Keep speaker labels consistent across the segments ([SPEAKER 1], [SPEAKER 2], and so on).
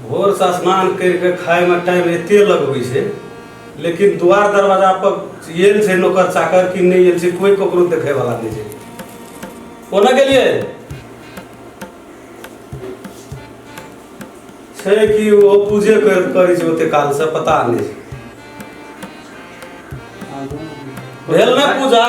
[SPEAKER 1] भोरसँ स्नान करि कऽ खाइमे टाइम एते लगबै छै लेकिन द्वार दरवाजा पर आयल छै नौकर चाकर कि नहि आयल छै कोइ ककरो देखै वाला नहि छै कोना गेलियै छै कि ओ पूजे कर करै छै ओते कालसँ पता नहि छै भेल ने पूजा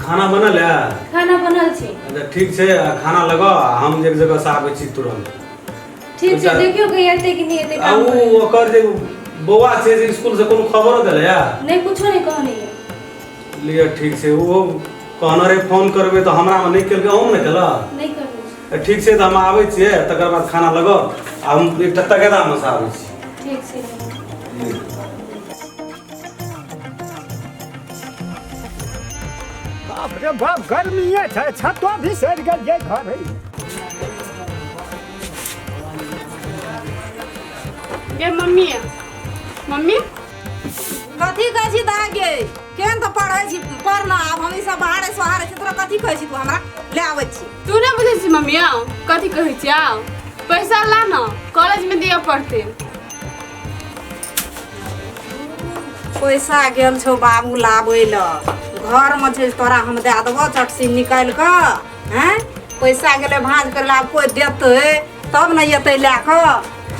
[SPEAKER 1] खाना बनल है खाना बनल छै अच्छा ठीक छै आ खाना लगाउ आ हम एक जगह से आबै छी तुरंत ठीक छै अच्छा। देखियौ कि एतै कि नहि एतै आ काम उ करै लए। ओकर जे बौआ छै से स्कूल से कोनो खबरो देले है नहि कुछो नहि कहने यऽ लिअ ठीक छै ओहो कहने रहे फोन करबै तऽ हमरा मे नहि केलकै अहूँ ने केलक नहि करने छै। ठीक छै तऽ हम आबै छियै तकर बाद खाना लगाउ आ हम एकटा तगेदामे से आबै छी ठीक छै बाप रे बाप गर्मीए छै छतो भी सड़ गेल ये घर है गे मम्मी मम्मी कथी कहै छी दाय गे केहन तऽ पढ़ै छी पढ़ ना आब हम ई सब बाहरे सोहारे छी तोरा कथी कहै छी तू हमरा ले आबै छी तू नहि बुझै छी मम्मी आउ कथी कहै छी आउ पैसा ला न कॉलेजमे दिअ पड़तै पैसा गेल छौ बाबू लाबै ल घरमे छै तोरा हम दए देबो चटसी निकालि कऽ हैं पैसा गेलै भाँज कर ला कोइ देतै तब ने अयतै लए कऽ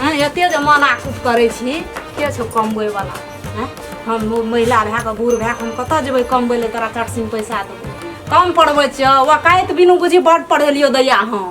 [SPEAKER 1] हैं एते जे मना कुट करै छी के छौ कमबैवला हैं हम महिला भए कऽ बूढ़ भए कऽ हम कतऽ जेबै कमबै लए तोरा चटसीमे पैसा देबै कम पढ़बै छियौ वकाइत बिनु बुझी बड पढ़ेलियौ दैया हम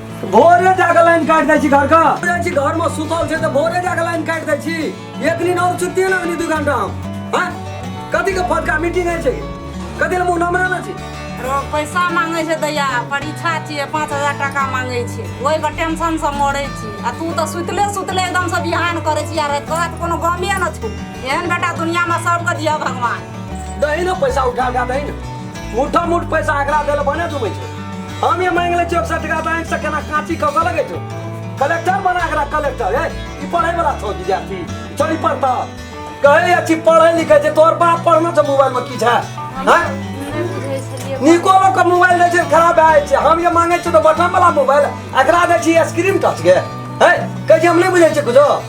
[SPEAKER 1] भोरे जाके लाइन काट दै छी घर का जाइ छी घर में सुतल छै त भोरे जाके लाइन काट दै छी एक दिन और छुट्टी ना मिली दू घंटा हम हां कथी के फटका मीटिंग है छै कथी ले मुंह नमरा ना छी रो पैसा मांगे छै दैया परीक्षा छियै पाँच हजार टाका मांगे छै ओहि के टेंशन से मरे छी आ तू तऽ सुतले सुतले एकदम से बिहान करे छी यार तोरा तऽ कोनो गमे न छौ एहन बेटा दुनिया में सबके दिया भगवान दही ना पैसा उठा उठा दही ना मुठा मुठ पैसा एकरा देले बने दुबै छै हम ये मांग ले चौक सटका बैंक से केना कांची कक लगे छो कलेक्टर बना के रख कलेक्टर ए ई पढ़े वाला छो विद्यार्थी चली पढ़ता कहे अच्छी पढ़े लिखे छे तोर बाप पढ़ना छे मोबाइल में की छे हैं निकोलो के मोबाइल दे छे खराब आए छे हम ये मांगे छे तो बटन वाला मोबाइल एकरा दे छी स्क्रीन टच के है कहे हम नहीं बुझे छे कुछो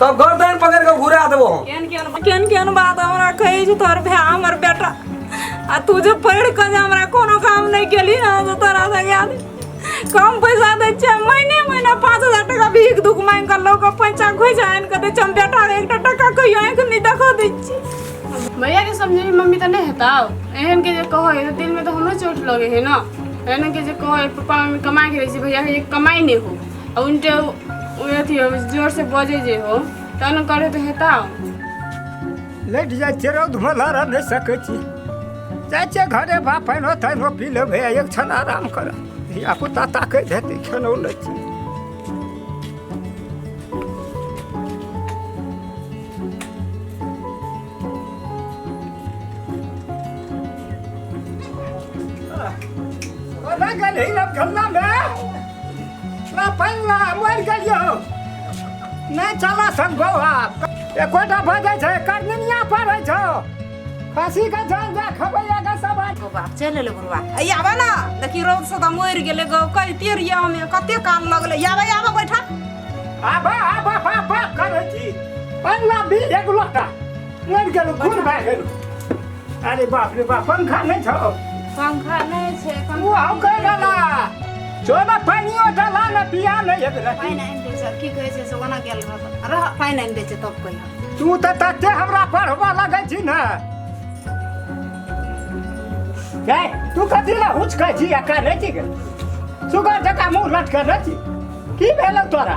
[SPEAKER 1] तब गर्दन पकड़ के घुरा देबो हम केहन केहन केहन केहन बात हमरा कहै छै तोहर भाय हमर बेटा आ तू जे पढ़ि कऽ जे हमरा कोनो काम नहि केली ने तऽ तोरा से याद कम पैसा दै छियै महीने महीना पाँच हजार टाका भीख दुख मांगि कऽ लोक पैसा खोइछा आनि कऽ दै छियै हम बेटा के एकटा टाका कहियो आँखि नहि देखऽ दै छियै भैया के समझे में मम्मी तऽ नहि हेता एहन के जे कहो है दिल में तो हमरो चोट लगे है ना एहन के जे कहो है पापा मम्मी कमाए के रहे छै भैया है ये कमाई नहीं हो उन जे उ अथी हो जोर से बजे जे हो तब न करे तो हेता लैट जाइ छै रौद भला रह नहि सकै छी जाइ छै घरे भा पानिओ तानिओ पी लेबै आ एक क्षण आराम कर धियापुता ताकैत हेतै खेलौ लै छी ओना गेल हिलब गल्लामे पहिला मरि गेलियो नहि चला सन बौआ एकोटा बजै छै करनिया पड़ै छौ फांसी का जान जा खबैया का सब ओ बाप चल ले बुढ़वा आई आबे ना देखी रोग से तो मर गेले गो कहते रिया हमें कते काल लगले आबे आबे बैठा आबे आबे बाप बाप करे छी पहिला भी एक लोटा मरि गेलो खून भए गेलो अरे बाप रे बाप पंखा नहीं छो पंखा नहीं छे वो आओ कर डाला छोड़ा पानी ओ डाला ना पिया नहीं है ना पानी नहीं बेचे की कहे छे सोना गेल रह रह पानी नहीं बेचे तब कोई तू त तते हमरा पढ़वा लगे छी ना ए तू कथी ला हुच कह छी अका नहीं छी सुगर जका मुंह लटका नहीं छी की भेलो तोरा